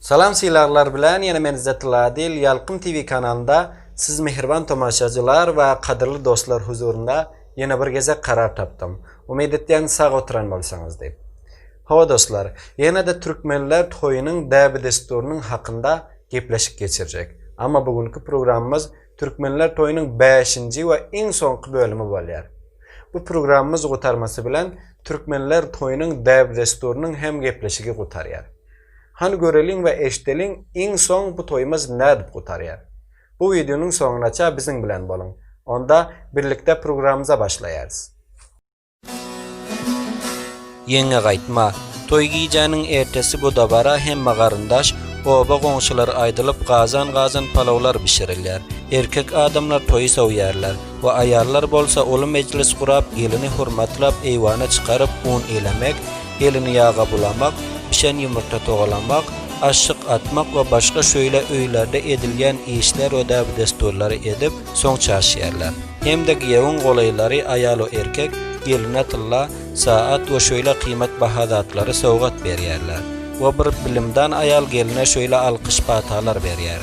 Salam sylaglar bilen ýene men Zetladill Ýalkym TV kanalynda siz mähriban tomaşacylar we kadyrly dostlar huzurynda ýene bir gezek karar tapdym. Umyt etýän sag oturan bolsaňyz diýip. Hawa dostlar, ýene-de Türkmenler toýunyň däbi-dessurynyň hakynda gepleşik geçirjek. Amma bu günki programmyz Türkmenler toýunyň bäşinji we iň soňky bölümi bolýar. Bu programmyz gutarmasy bilen Türkmenler toýunyň däbi-dessurynyň hem gepleşigi gutarýar. Hany göreliň we eşdeliň iň soň bu toýumyz nädip gutarýar. Bu wideonyň soňunaça biziň bilen boluň. Onda birlikde programmyza başlaýarys. Ýeňňe gaýtma. Toý gijäniň ertesi bu dabara hemme garyndaş, oba goňşular aýdylyp gazan gazan palawlar bişirilýär. Erkek adamlar toýy sowýarlar we aýallar bolsa uly mejlis gurap gelini hurmatlap eýwana çykaryp un ilemek, gelini ýaga bulamak, bişen ýumurta togalamak, aşşyk atmak we başga şöýle öýlerde edilýän işler we däbi-dessurlary edip, soň çaşýarlar. Hem-de giýewiň golaýlary, aýal we erkek, geline tylla, saat we şöýle gyýmat baha zatlary sowgat berýärler we bir bilimdan aýal geline şöýle alkyş-patalar berýär.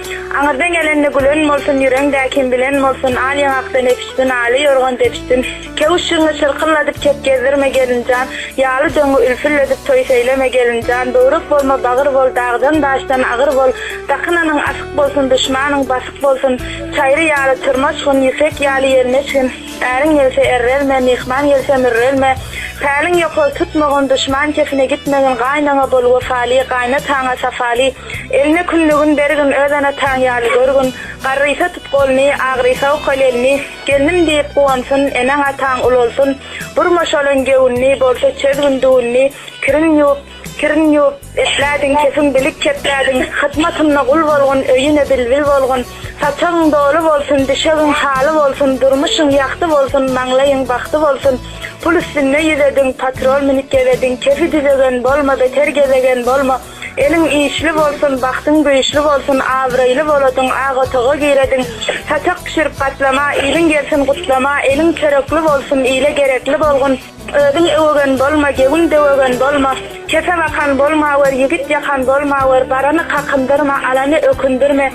Aňyrdan gelende gülen bolsun, ýüreňdä kim bilen bolsun, Al ýaňakdan epişsin, aly ýorgan depişsin. Käwüşjügiňi çyrkyldadyp kep gezdirme, gelin jan, Ýaly döňňi ülfülledip toý seýleme, gelin jan, Böwrek bolma, bagyr bol, dagdan-daşdan agyr bol, Dakynanyň asyk bolsun, duşmanyň basyk bolsun. Çaýry ýaly tyrmaşgyn, ýüpek ýaly ýelmeşgin, Äriň gelse errelme, myhman gelse mürrelme. Päliň ýokary tutmagyn, duşman kefine gitmegin, Gaýynaňa bol wepaly, gaýnataňa sapaly. Elme kündügin bergin, öz ene-ataň ýaly görgün. Garrysa tut goluny, agrysa okal elini, Gelnim diýip guwansyn, eneň-ataň ulalsyn. Burma şolan gewünini, bolsa çözgün düwünini, Kirin ýuwup, kirin ýuwup, eplädiň, kesin bilik keplädiň. Hyzmatynda gul bolgun, öýüne bilbil bolgun. Saçagyň doly bolsun, düşegiň haly bolsun, Durmuşyň ýagty bolsun, maňlaýyň bagty bolsun. Pul üstünde ýüzediň, patrol münüp gezediň, Kefi düzegen bolma, beter gezegen bolma. Eliň işli bolsun, bagtyň güýçli bolsun, abraýly boladyň, ak otaga girediň, saçak bişirip gatlama, iliň gelsin gutlama, eliň çörekli bolsun, ile gerekli bolgun, özüň öwegen bolma, gewiň döwegen bolma, kese bakan bolmawer, ýigit ýakan bolmawer, barany kakyn-dyrma, alany ökündirme,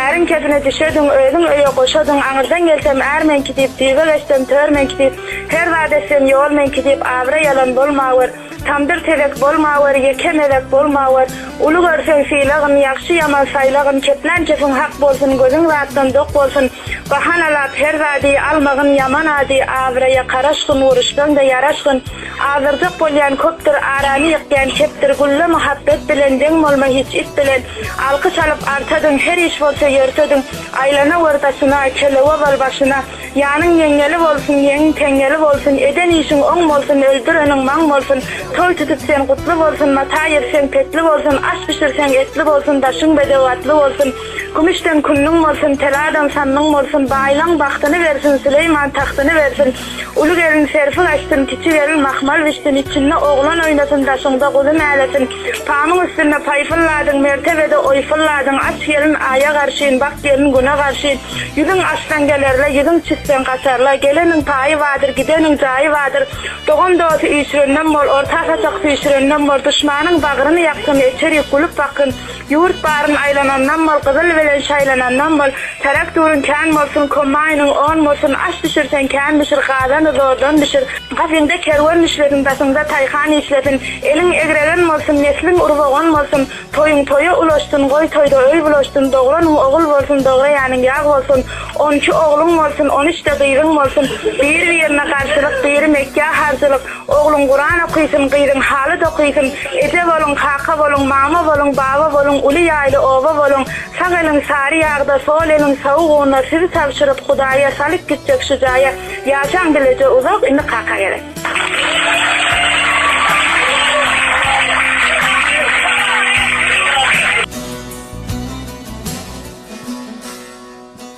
äriň kesine düşediň, özüň öýe goşadyň, aňyrdan gelsem, är meňki diýip, düýbe geçsem, tör meňki diýip, her zat etsem, ýol meňki diýip, abraý alan bolmawer, Tamdyr tezek bolmawer, ýeke mezek bolmawer, Uly görseň sylagyn, ýagşy-ýaman saýlagyn, Keplän kepin hak bolsun, gözüň zatdan dok bolsun, Bahanalap her zady almagyn ýaman ady, Abraýa karaşgyn, uruşsaň-da ýaraşgyn, Azdyrjak bolýan köpdür, arany ýykýan kepdir, Gülle muhabbet bilen, deň bolma hiç it bilen, Alkyş alyp artadyň, her iş bolsa ýörtedyň, Aýlanawer daşyna, kelew owal başyna, Janyň ýeňňeli bolsun, ýeňiň teňňeli bolsun, eden işiň oň bolsun, öldüreniň maň bolsun, toý tutup sen gutly bolsun, mata ýerseň petli bolsun, aş bişirseň etli bolsun, daşyň bedew atly bolsun, kümüşden künlüň bolsun, teladan sanlyň bolsun, baýlaň bagtyny bersin, Süleýman tagtyny bersin, uly gelin serpik açsyn, kiçi gelin mahmal bişsin, içinde oglan oýnasyn, daşyňda guzy mälesin, pamyň üstünde paý pylladyň, mertebede oý pylladyň, aç gelin aýa garşyn, bak gelin güne garşyn, Ýüzüň açsaň gelerler, ýüzüň çütseň gaçarlar, Geleniň paýy bardyr, gideniň jaýy bardyr. Dogan-dosy üýşürenden bol, orta-saçak süýşürenden bol, Duşmanyň bagryny ýaksyn, eçerik gülüp baksyn. Ýurt baryn aýlanandan bol, gyzyl bilen şaýlanandan bol, Traktoryň kän bolsun, kombaýnyň on bolsun, Aş bişirseň kän bişir, gazany zordan bişir. Gazyňda kerwen işlesin, daşyňda taýhan işlesin, Eliň egregen bolsun, nesliň urbogan bolsun, Toýuň toýa ulaşsyn, goý toýda öý bulaşsyn, Dogranyň ogul bolsun, dograýanyň ýag bolsun, On iki ogluň bolsun, on üçde gyzyň bolsun, Bir-birine garşylyk, biri Mekgä harjylyk, Ogluň Kuran okysyn, gyzyň haly dokysyn, Eje boluň, kaka boluň, mama boluň, baba boluň, Uly ýaýly oba boluň, sag eliň sary ýagda, sol eliň sawuk unda, Sizi tabşyryp Hudaýa, salyp gitjek şu jaýa, Ýaşaň bileje uzak, indi kaka gerek.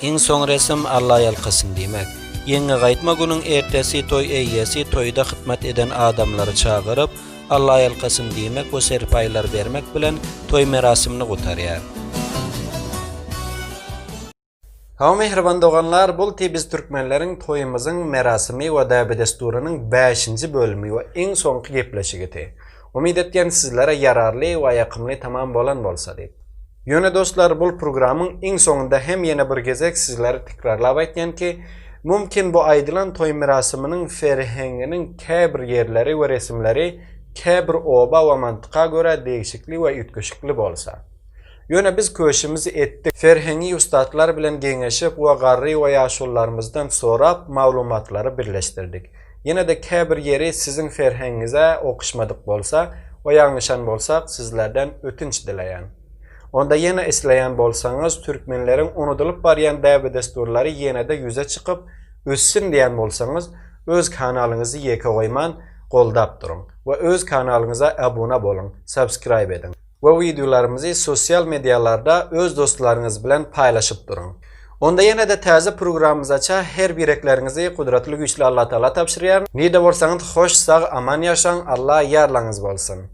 Iň soň resm Allaýalkasyn diýmek. Ýeňňe gaýtma günüň ertesi toý eýýesi toýda hytmat eden adamlary çagyryp, Allaýalkasyn diýmek we serpaýlar bermek bilen toý merasimini gutarýar. Hawa mähriban doganlar bulty biz türkmenleriň toýumyzyň merasimi we däbedesdurynyň bäşinji bölümi we iň soňky gepleşigidi. Umyt etýän sizlere ýararly we ýakymly tamam bolan bolsa diýip. Ýöne dostlar bul purgramyň iň soňunda hem ýene bir gezek sizlere tikrarlap aýtýan ki mumkin bu aýdylan toý mirasymynyň serhenginiň käbir ýerleri we resimleri käbir oba we mantyka görä degişikli we üýtgeşikli bolsa. Ýöne biz köşümizi etdik. Ferhengi ussatlar bilen geňeşip we garry we ýaşulularymyzdan sorap, maglumatlary birleşdirdik. Ýene-de käbir ýeri siziň ferhengiňize okyşmadyk bolsa we ýalňyşan bolsak, sizlerden ötünç dileýän. Onda ýene isleýän bolsaňyz, türkmenleriň unudylyp barýan däbe-dessurlary ýene-de ýüze çykyp, össin diýän bolsaňyz, öz kanalyňyzy ýeke goýman, goldap duruň we öz kanalyňyza abuna boluň, subscribe ediň. we wideolarymyzy sosial medialarda öz dostlaryňyz bilen paýlaşyp duruň. Onda ýene-de täze programymyzaça her birekleriňizi gudratly güýçli Allatagala tabşyrýaryn. Nirde bolsaňyz hoş sag aman ýaşaň Alla ýarlaňyz bolsun.